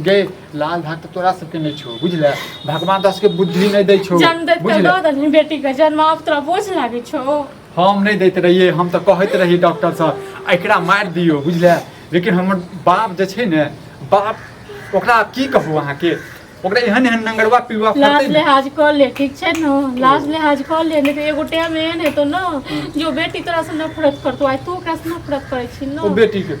गे लाल भाग तऽ तोरा सबके नहि छौ बुझले भगवान तोरा सबके बुद्धि नहि दै छौ जन्म दैत बुझले दऽ देलही बेटीके जन्म आब तोरा बोझ लागै छौ हम नहि दैत रहियै हम तऽ कहैत रही डॉक्टर सर एकरा मारि दियौ बुझले लेकिन हमर बाप जे छै ने बाप ओकरा आब की कहू अहाँके ओकरा एहन एहन नंगरवा पिलुआ फरतै लाज ने लिहाज कऽ ले ठीक छै ने लाज लिहाज कऽ ले नहि तऽ एगो टाइम एहन हेतौ ने जे ओ बेटी तोरा से नफरत करतौ आइ तू ओकरा से नफरत करै छी ओ ने बेटीके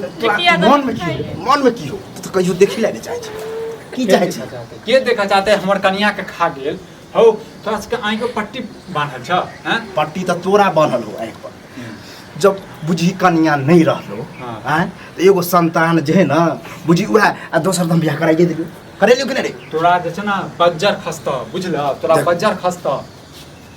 लिट्टिया दऽ मन में की खाइए। हो मन में की हो तू तो कहियो देखी लेने चाहे छे की के चाहे देखा छे चाहते के देखा चाहते हमर कनिया के खा गेल हौ तोरा सबके आँखि पर पट्टी बांधल छ हैं पट्टी तो तोरा बनल हो आँख पर जब बुझी कनिया नहीं रहलो हाँ। आँय तो एगो संतान जे है ना बुझी उहे आ दोसर दम बियाह कराइए देलियो करेलियो कि नहीं रे तोरा जे छै ने बज्जर खसत बुझल तोरा देख। बज्जर खसत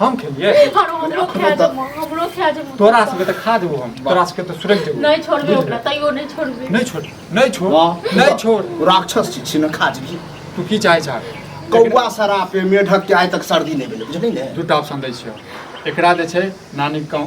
हम खेलिए और वो लोग खा जब हम लोग खा जब तोरा सबके त खा देबो हम तोरा सबके त सुरग देबो नहीं छोड़बे ओकरा तैयो नहीं छोड़बे नहीं छोड़ नहीं छोड़ नहीं छोड़ राक्षस छी न खा जी तू की चाहे छा कौआ सरापे मेढक के आइ तक सर्दी नहीं भेलै बुझलिन ने दूटा ऑप्शन दै छियो एकरा जे छै नानी गाँव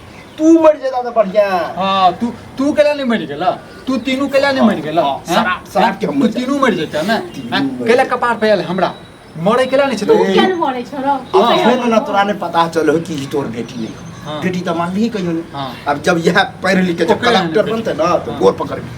तू मर जेता तो बढ़िया हां तू तू केला नहीं मर गेला तू तीनू केला नहीं मर गेला हाँ, हाँ? शराब शराब के मर तीनू मर जेता ना हाँ, केला कपार पे आयल हमरा मरे केला नहीं छै तो क्या मरे छोरो अब फिर ना तोरा ने पता चलो कि तोर बेटी नहीं बेटी तो मान ली कहियो अब जब यह पढ़ लिख के जब कलेक्टर बनते ना तो गोर पकड़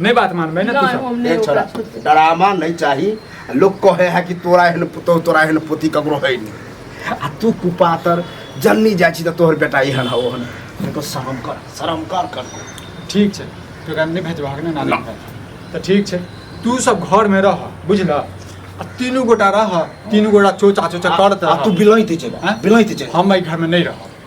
नहीं बात मानबे ना तू सब ए छोरा डरामा नहीं चाही लोग कहे है कि तोरा एहन पुतौ तोरा एहन पोती ककरो है नहीं आ तू कुपातर जन्नी जाइ छी त तोहर बेटा एहन हौ ओहन देखो शरम कर शरम कर कर ठीक छै तो एकरा नहीं भेजबा के ना ना। ना तो ठीक छै तू सब घर में रह बुझल आ तीनू गोटा रह तीनू गोटा चोचा चोचा करत आ तू रह बिलैत चल हैं? बिलैत चल हम एहि घर में नहीं रह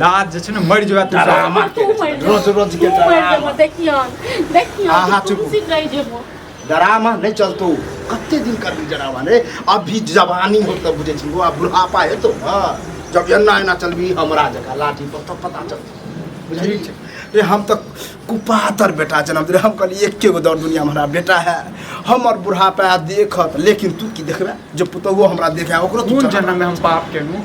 लाज जे छै ने मरि जेबै तू डरामा तू मरि जेबो। रोज रोज के तू मरि डरामा जेबो, देखियौ देखियौ आहा, तू चुप। कुर्सी रहि जेबो डरामा नहि चलतौ कते दिन करबी डरामा रे अभी जवानी हो तब बुझै छी आ बुढ़ापा हेतौ ने जब एना एना चलबी हमरा जकाँ लाठी पर तब पता चलतौ बुझली छै रे हम तऽ कुपातर बेटा जनम रे हम कहली एके गो दौड़ दुनिया में हमरा बेटा है हमर बुढ़ापा देखत लेकिन तू की देखबे जे पुतहुओ हमरा देखे ओकरो तू कोन चढ़ा। जन्म में हम पाप केलहुँ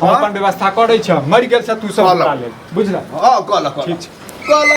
हम अपन व्यवस्था करै छ मरि गेल छ तू सब कलक। उतार ले बुझला हँ कलक ठीक कलक छै कलक